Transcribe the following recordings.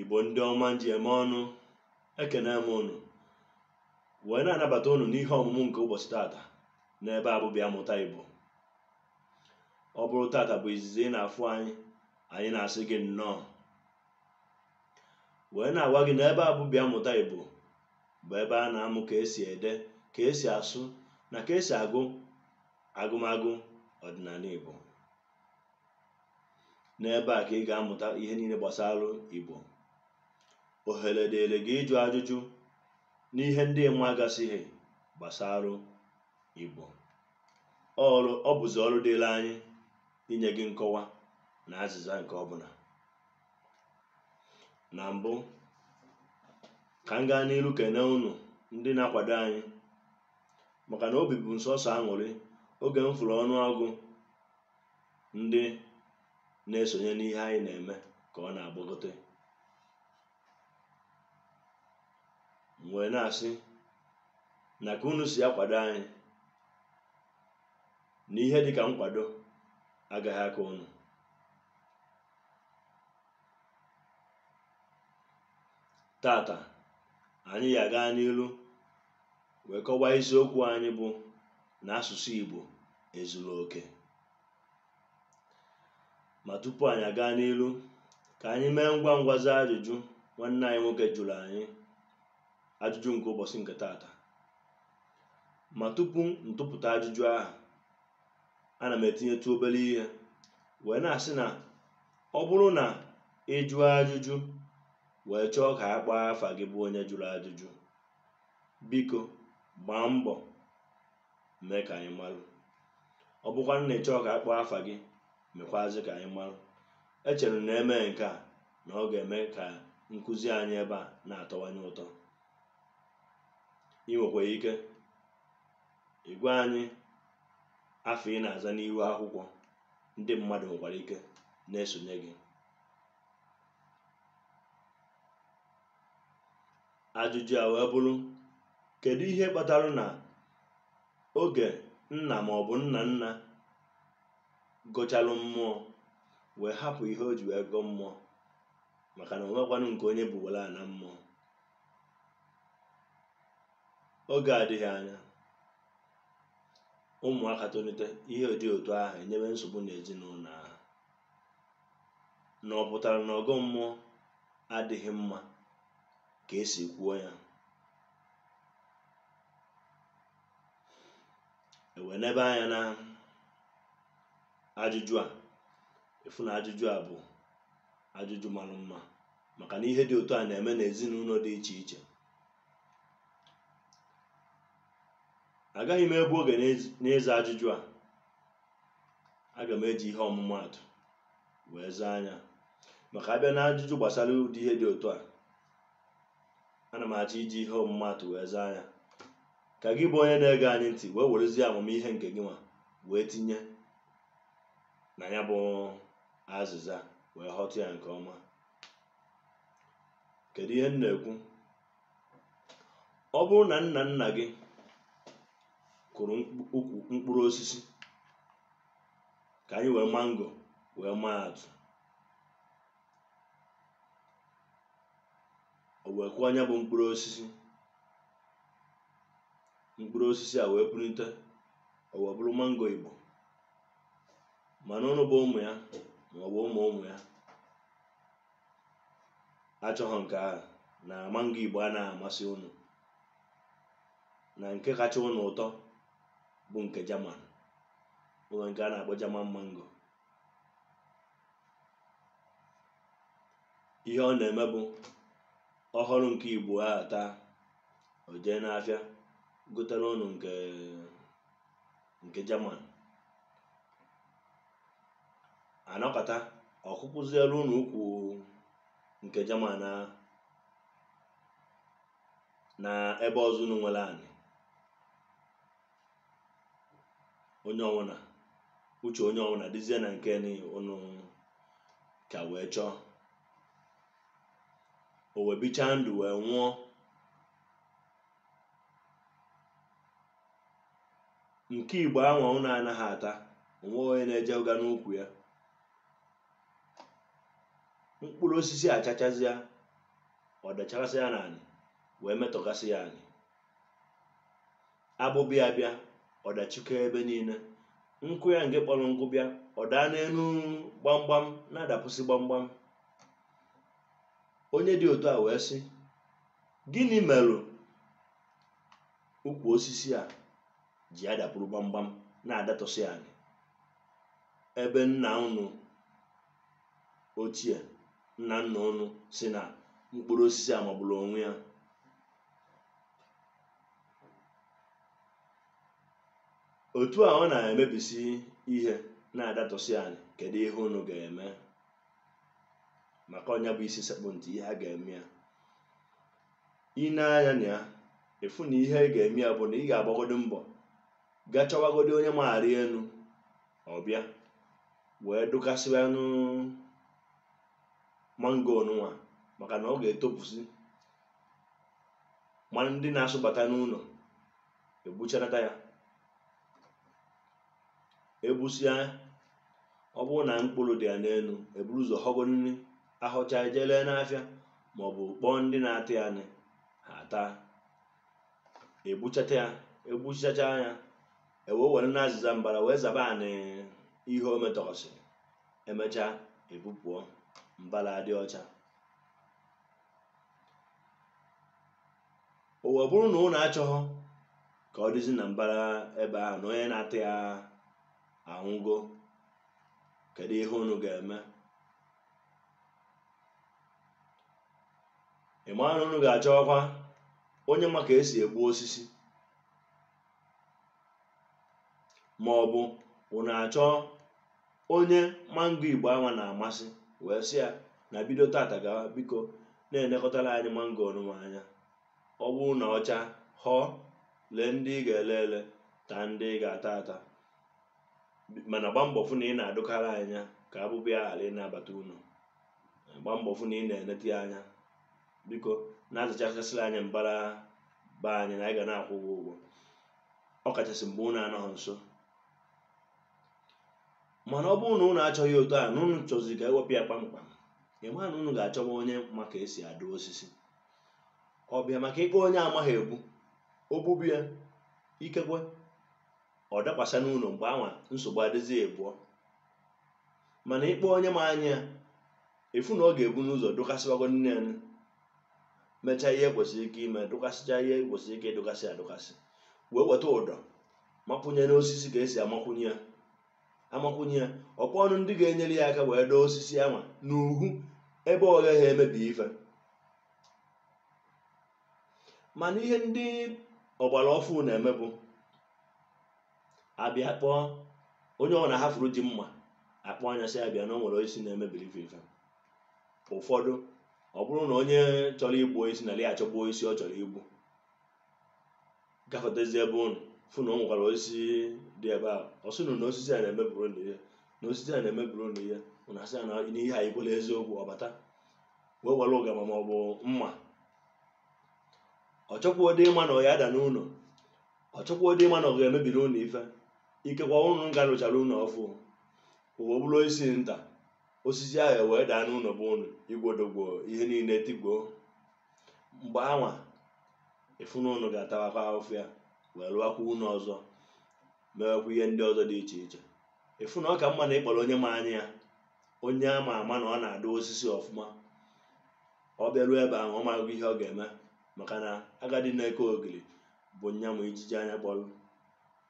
igbo ndị ọma m ji eme ọnụ ekene m unu wee na-anabata unu n'ihe ọmụmụ nke ụbọsị tata n'ebe a bụ bịa mụta igbo ọ bụrụ tata bụ izizi ị na-afụ anyị anyị na-asị gị nnọọ wee na-agwa gị na ebe a bụ bịa mụta igbo bụ ebe a na-amụ ka esi ede ka esi asụ na ka esi agụ agụmagụ ọdịnanị igbo n'ebe a ka ị ga-amụta ihe niile gbasara Igbo ohere dịrị gị ịjụ ajụjụ n'ihe ndị ị magasịghị gbasara Igbo ọ bụzi ọrụ dịrị anyị inye gị nkọwa na azịza nke ọbụla na mbụ ka m gaa n'iru kene unu ndị na-akwado anyị maka na obi bụ m sọsọ aṅụrị oge m fụrụ ọnụọgụ ndị na-esonye n'ihe anyị na-eme ka ọ na-agbagote m wee na-asị na ka unu si akwado anyị na ihe dịka nkwado agaghị akọ unu tata anyị ya-aga n'ilu wee kọwaa isiokwu anyị bụ na asụsụ Igbo ezuro oke ma tupu anyị aga n'ilu ka anyị mee ngwa ngwa zaa ajụjụ nwanne anyị nwoke jụrụ anyị ajụjụ nke ụbọsị nke taata ma tupu m tụpụta ajụjụ ahụ ana m etinyetụ obere ihe wee na-asị na ọ bụrụ na ị jụọ ajụjụ wee chọọ ka a kpọọ afa gị bụ onye jụrụ ajụjụ biko gbaa mbọ mee ka anyị marụ ọ bụkwanụ na ị chọọ ka a kpọọ afa gị mekwazi ka anyị marụ echere m na e mee nke a na ọ ga-eme ka nkụzi anyị ebe a na-atọwanye ụtọ ị nwekwara ike ịgwa anyị afa ị na-aza n'ihu akwụkwọ ndị mmadụ nwekwara ike na-esonye gị Ajụjụ a wee bụrụ, kedu ihe kpatara na oge nna ma ọ bụ nna nna gọchalụ mmụọ wee hapụ ihe o ji wee gọọ mmụọ maka na o nwekwanụ nke onye bubara na mmụọ oge adịghị anya ụmụaka tolite ihe dị otu ahụ enyewe nsogbu n'ezinụlọ ahụ na ọ pụtara na ọgọ mmụọ adịghị mma ka esi kwuo ya e wee nebe anya na ajụjụ a ị fụ na ajụjụ a bụ ajụjụ mara mma maka na ihe dị otu a na-eme n'ezinụlọ dị iche iche agaghị m egbu oge n'ịza ajụjụ a aga m eji ihe ọmụmaatụ wee zaa nya maka abịa na ajụjụ gbasara ụdị ihe dị otu a ana m achọ iji ihe ọmụmaatụ wee zaa nya ka gị bụ onye na-ege anyị ntị wee werezie amamihe nke gịnwa wee tinye na ya bụ azịza wee ghọta ya nke ọma kedu ihe m na-ekwu ọ bụrụ na nna nna gị kụrụ ukwu mkpụrụ osisi ka anyị wee mango wee maa atụ o wee kụọ nya bụ mkpụrụ osisi mkpụrụ osisi a wee pulite o wee bụrụ mango igbo mana ụnụ bụ ụmụ ya ma ọ bụ ụmụ ụmụ ya achọghị nke ahụ na mango igbo a na-amasị ụnụ na nke kacha ụnụ ụtọ bụ nke German o nwe nke a na-akpọ German mango ihe ọ na-eme bụ ọ ghọrụ nke igbo a taa o jee n'afịa gotere ụnụ nke nke German a nọkata ọ kụkwuziere unu ukwu nke German a na ebe ọzọ unu nwere anị onye ọwụna uche onye ọwụna dịzie na nke ni unu ka wee chọọ o wee bichaa ndụ wee nwụọ nke igbo anwa unu anaghị ata o nwe onye na-ejega n'ukwu ya mkpụrụ osisi achachazịa ọ dachasịa n'anị wee metọgasịa anị abụba ya bịa ọ dachikọ ebe niile nkụ ya nke kpọrọ nkụ bịa ọ daa n'elu gbamgbam na-adapusi gbamgbam onye dị otu a wee sị gịnị merụ ukwu osisi a ji adapụrụ gbamgbam na-adatọsị anị ebe nna unu ochie nna nna unu sị na mkpụrụ osisi a magburu onwe ya otu a ọ na-emebisi ihe na-adatọsị anị kedu ihe unu ga-eme maka ọ nya bụ isi sekpụ ntị ihe a ga-eme ya i nee anya na ya ị fụ na ihe ị ga-eme ya bụ na ị ga-agbagodi mbọ ga chọwagodi onye ma arị elu ọ bịa wee dụkasịwanụ mango ọnụwa maka na ọ ga-etopụzi ma ndị na-asụbata n'ụlọ egbuchanata ya egbusịa ọ bụrụ na mkpụrụ dị ya n'elu eburu ụzọ họgonị a họcha e jee lee n'afịa maọbụ kpọọ ndị na-ata ya nị ha taa egbuchata ya egbuchacha ya ewe were na azịza mbara wee zaba anị ihe o metọsị emechaa ebupụọ mbara adị ọcha o wee bụrụ na ụnụ achọghọ ka ọ dịzi na mbara ebe ahụ na onye na-ata ya anwụgo kedu ihe ụnụ ga-eme ị mara na unu ga-achọkwa onye ma ka esi egbu osisi ma ọ bụ unu achọ onye mango igbo anwa na-amasị wee sị ya na bido tata gawa biko na-elekọtara anyị mango ọnụnwa anya ọ bụrụ na ọ chaa họọ lee ndị ị ga-ele ele taa ndị ị ga-ata ata mana gba mbọ fụ na ị na-adụkara anya ka abụba ya ghara ịna-abata ụnọ gba mbọ fụ na ị na-eneta ya anya biko na-azachasịrị anyị mbara be anyị na anyị ga na-akwụ gị ụgwọ ọ kachasị mgbe unu anọghị nso mana ọ bụrụ na unu achọghị otu a na unu chọzi ka ewepụ ya kpamkpam ị ma na unu ga-achọba onye ma ka esi adụ osisi ọ bịa maka ị kpọọ onye amaghị egbu o gbube ya ikekwe ọ dakwasa n'ụlọ mgbe anwa nsogbu adịzi ibụọ mana ị kpọọ onye ma anya ya ị fụ na ọ ga-ebu n'ụzọ dụkasịwagonị ya mechaa ihe kwesịrị ike ime dụkasịcha ihe kwesịrị ike ịdụkasị adụkasị wee weta ụdọ makwụnye n'osisi ka esi amakwụnye ya amakwụnye ya ọ kpọọnụ ndị ga-enyere ya aka wee doo osisi anwa n'uhu ebe ọ gaghị emebi ife mana ihe ndị ọgbara ọfụ na-eme bụ abịa kpọọ onye ọbụna ha fụrụ ji mma akpọọ nya sị ya bịa na o nwere osisi na-emebiri ife ụfọdụ ọ bụrụ na onye chọrọ igbu osisi na ya achọ igbu osisi ọ chọrọ igbu gafetezi ebe ụnụ fụ na o nwekwara osisi dị ebe a ọ sị ụnụ na osisi a na-emebiri ụnụ ihe na osisi a na-emebiri ụnụ ihe ụnụ asị ya na ihe a ikwela eziokwu ọ bata wee were ụgama ma ọ bụ mma ọ chọkwuo dị ịma na ọ ya-ada n'ụlọ ọ chọkwuo dị ịma na ọ ga-emebiri ụnụ ife ikekwe ụnụ ka rụchara ụlọ ọfụ o wee bụrụ isi nta osisi ahụ wee daa n'ụlọ bụ ụlọ igwodogwo ihe niile tigbuo mgbe anwa ị fụ na ụnụ ga-atawakwa ahụfụ ya wee rụwakwa ụlọ ọzọ mewekwa ihe ndị ọzọ dị iche iche ị fụ na ọ ka mma na ị kpọrọ onye ma anya ya onye a ma ama na ọ na-adụ osisi ọfụma ọ bịaruo ebe ahụ ọ mago ihe ọ ga-eme maka na agadi na-eke ogiri bụ nya ma ijiji anya kpọrọ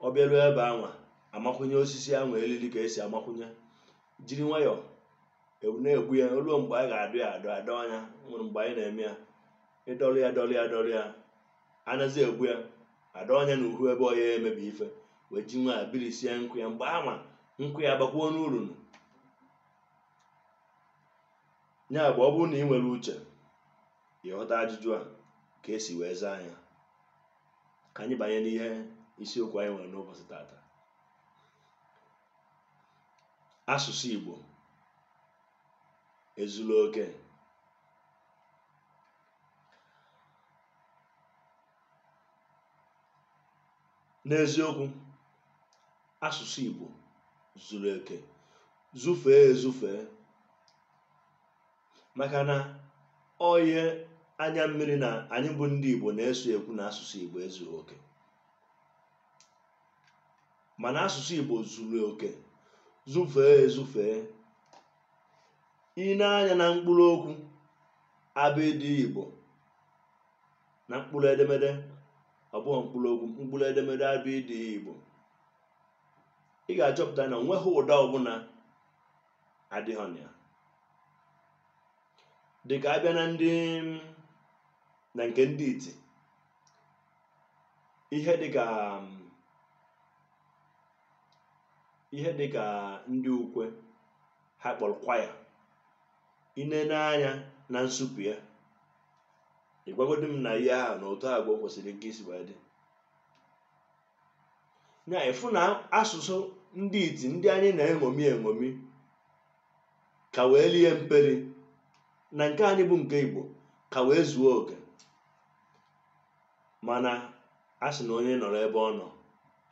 ọ bịaruo ebe ahụ amakwụnye osisi ahụ eriri ka e si amakwụnye jiri nwayọọ e- na-egbu ya ruo mgbe a ga-adọ ya adọ nya eruo mgbe anyị na-eme ya ị dọrọ ya dọrọ ya dọrọ ya a nazi egbu ya adọọ nya na uhu ebe ọ ya-emebi ife wee ji wee birisie nkụ ya mgbe anwa nkụ ya abakwuo ụnụ uru ya bụ ọ bụrụ na ị nwere uche ị ghọta ajụjụ a ka e si wee zaa ya ka anyị banye n'ihe isiokwu anyị nwere n'ụbọsị tata asụsụ Igbo ezuru oke n'eziokwu asụsụ Igbo zuru oke zufee ezufee maka na ọ bụ ihe anya mmiri na anyị bụ ndị Igbo na-eso ekwu na asụsụ Igbo ezughị oke mana asụsụ Igbo zuru oke zufee ezufee i nee anya na mkpụrụ okwu abịdị Igbo na mkpụrụ edemede ọ bụghị mkpụrụ okwu mkpụrụ edemede abịdị Igbo ị ga-achọpụta na o nweghị ụda ọbụla adịghị na ya dịka a bịa na ndị na nke ndị iti ihe dịka um, ihe dị ka ndị ukwe ha kpọrọ kwaya inene anya na nsupe ya ị gwagodi m na ihe ahụ na otu agwa kwesịrị nke isi wee dị na ịfụ na asụsụ ndị iti ndị anyị na-eṅomi eṅomi ka wee lie mpeli na nke anyị bụ nke igbo ka wee zuo oke mana a sị na onye nọrọ ebe ọ nọ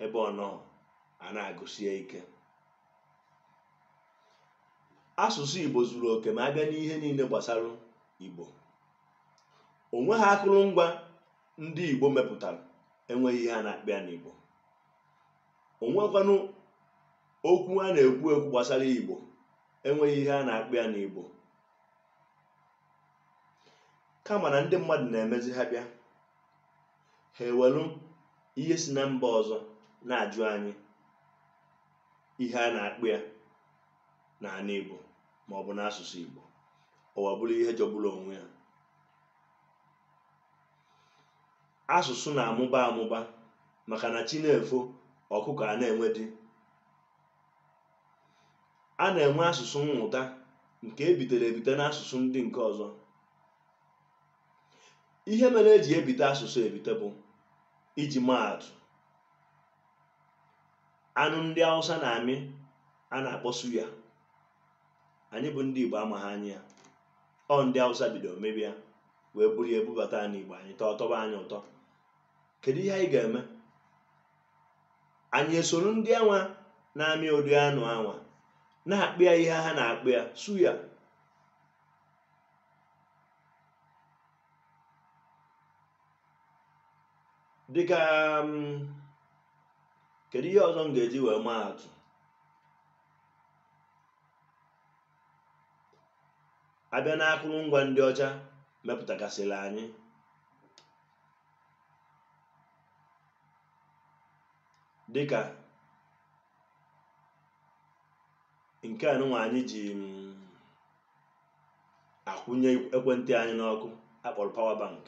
ebe ọ nọ a na-agụsi ya ike asụsụ Igbo zuru oke ma abịa n'ihe niile gbasara Igbo o nweha akụrụngwa ndị Igbo mepụtara enweghị ihe a na-akpọ ya n'Igbo o nwekwanụ okwu a na-ekwu ekwu gbasara Igbo enweghị ihe a na-akpọ ya n'Igbo kama na ndị mmadụ na-emezi ha bịa ha ewelu ihe si na mba ọzọ na-ajụ anyị ihe a na-akpọ ya n'ala Igbo ma ọ bụ n'asụsụ Igbo ọwa bụrụ ihe jọgburu onwe ya asụsụ na-amụba amụba maka na chi na-efo ọkụkọ a na-enwe di a na-enwe asụsụ mmụta nke ebitere ebite n'asụsụ ndị nke ọzọ ihe mere eji ebite asụsụ ebite bụ iji maatụ anụ ndị Hausa na-amị a na-akpọ suya anyị bụ ndị Igbo amaghị amị ya ọ ndị Hausa bidoro mebe ya wee buru ya ebubata ya n'Igbo anyị taa ọ tọba anyị ụtọ kedu ihe anyị ga-eme anyị esoro ndị anwa na-amị ụdị anụ anwa na-akpọ ya ihe ha na-akpọ ya suya dịka um, kedu ihe ọzọ m ga-eji wee maa atụ abịa na akụrụngwa ndị ọcha mepụtagasịrị anyị dịka nke a nụnwa anyị ji mm, akwụnye ekwentị anyị n'ọkụ a kpọrọ power bank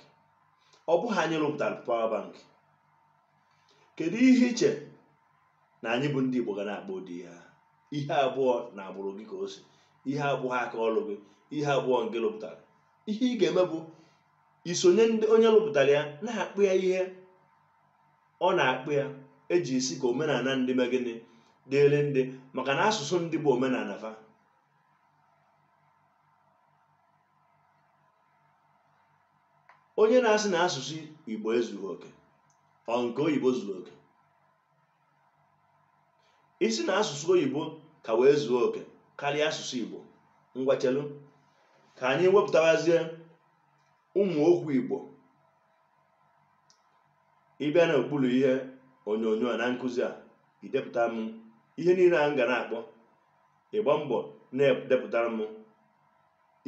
ọ bụghị anyị rụpụtara power bank kedu ihe i che na anyị bụ ndị Igbo ga na-akpọ ụdị ya ihe abụhọ na agbụrụ gị ka o si ihe abụhọ aka ọrụ gị ihe abụhọ ngị rụpụtara ihe ị ga-eme bụ iso onye rụpụtara ya na-akpọ ya ihe ọ na-akpọ ya eji asị ka omenala ndị mee gịnị dịrị ndị maka na asụsụ ndị bụ omenala fa onye na-asị na asụsụ igbo ezughị oke ọ nke oyibo zuru oke ị sị na asụsụ oyibo ka wee zuo oke karịa asụsụ igbo ngwa chelu ka anyị wepụtawazie ụmụ okwu igbo ị bịa n'okpuru ihe onyonyo a na nkụzi a i depụta m ihe niile a m ga na-akpọ ị gbaa mbọ na-edepụtara m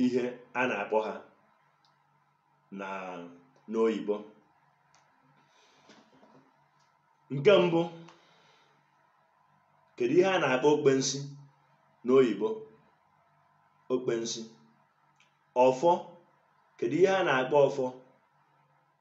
ihe a na-akpọ ha na n'oyibo nke mbụ kedu ihe a na-akpọ okpensi n'oyibo okpensi ọfọ kedu ihe a na-akpọ ọfọ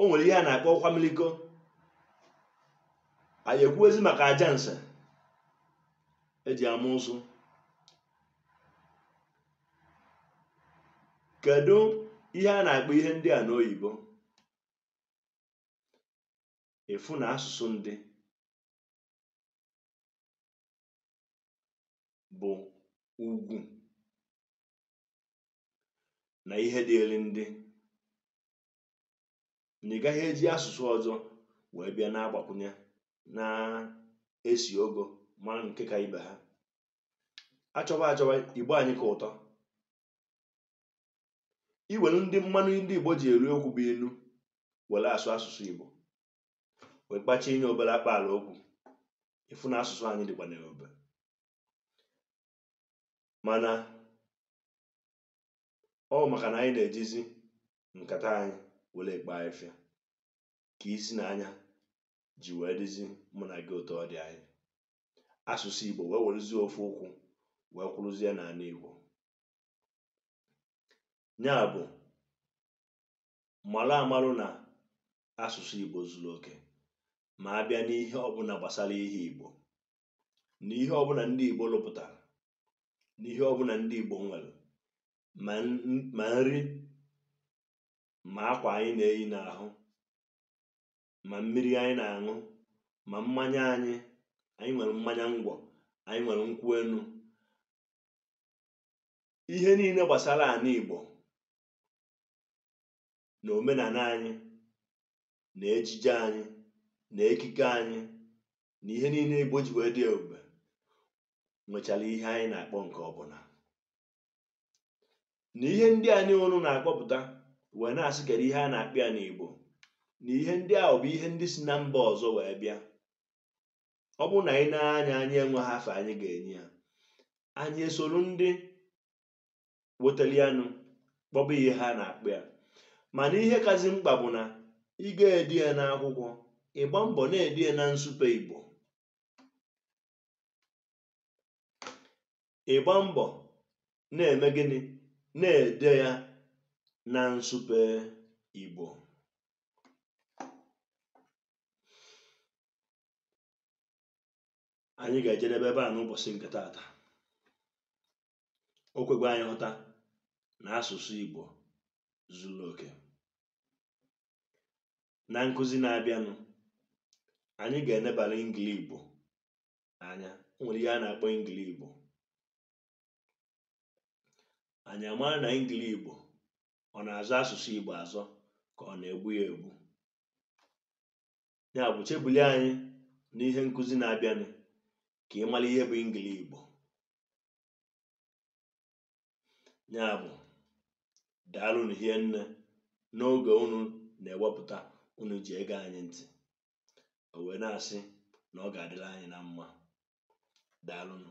o nwere ihe a na-akpọ ọkwa miliko anyị ekwuwezi maka aja nse eji ama ụsụ kedu ihe a na-akpọ ihe ndị a n'oyibo ị fụ na asụsụ ndị bụ ugwu na ihe dịịlụ ndị na ị gaghị eji asụsụ ọzọ wee bịa na-agbakwụnye na-esi ogo ma nke ka ibe ha a chọba achọba igbo anyị ka ụtọ i welu ndị mmanụ ndị igbo ji eri okwu bụ ilu were asụ asụsụ igbo wee kpachinye obere akpaala okwu ị fụ na asụsụ anyị dịkwa n'ebe mana ọ maka na anyị na-ejizi nkata anyị were ekpo afịfịa ka isi na anya ji wee dịzi mụ na gị otu ọ dị anyị asụsụ Igbo wee werezie ofu ụkwụ wee kwụrụzie n'ala Igbo ya bụ malụ amalụ na asụsụ Igbo zuru oke ma a bịa n'ihe ọbụla gbasara ihe Igbo na ihe ọbụla ndị Igbo lụpụtara na ihe ọbụla ndị Igbo nwere ma nri ma akwa anyị na-eyi n'ahụ ma mmiri anyị na-aṅụ ma mmanya anyị anyị nwere mmanya ngwọ anyị nwere nkwụ enu ihe niile gbasara ala Igbo na omenala anyị na ejije anyị na ekike anyị na ihe niile Igbo ji wee dị ebube nwechara ihe anyị na-akpọ nke ọbụla na ihe ndị a niile unu na-akpọpụta wee na-asị kedu ihe a na-akpọ ya n'Igbo na ihe ndị ahụ bụ ihe ndị si na mba ọzọ wee bịa ọ bụrụ na anyị na-anya anyị enweghị afa anyị ga-enye ya anyị esoro ndị wetali ya nụ kpọba ihe ha na-akpọ ya mana ihe kazị mkpa bụ na ị ga-ede ya n'akwụkwọ ịgba mbọ na-ede ya na nsupe igbo ịgba mbọ na-eme gịnị na-ede ya na nsupe igbo anyị ga-ejedebe ebe a n'ụbọchị nke taata o kwego anyị hụta na asụsụ Igbo zuru oke na nkụzi na-abịanụ anyị ga-enebara Engili Igbo anya o nwere ihe a na-akpọ Engili Igbo anyị amara na Engili Igbo ọ na-azọ asụsụ Igbo azọ ka ọ na-egbu ya egbu ya bụ chebuli anyị n'ihe nkụzi na-abịanụ ka ị mara ihe bụ Engili Igbo ya bụ daalụnụ hie nne n'oge unu na-ewepụta unu ji ege anyị ntị o wee na-asị na ọ ga-adịlị anyị na mma daalụnụ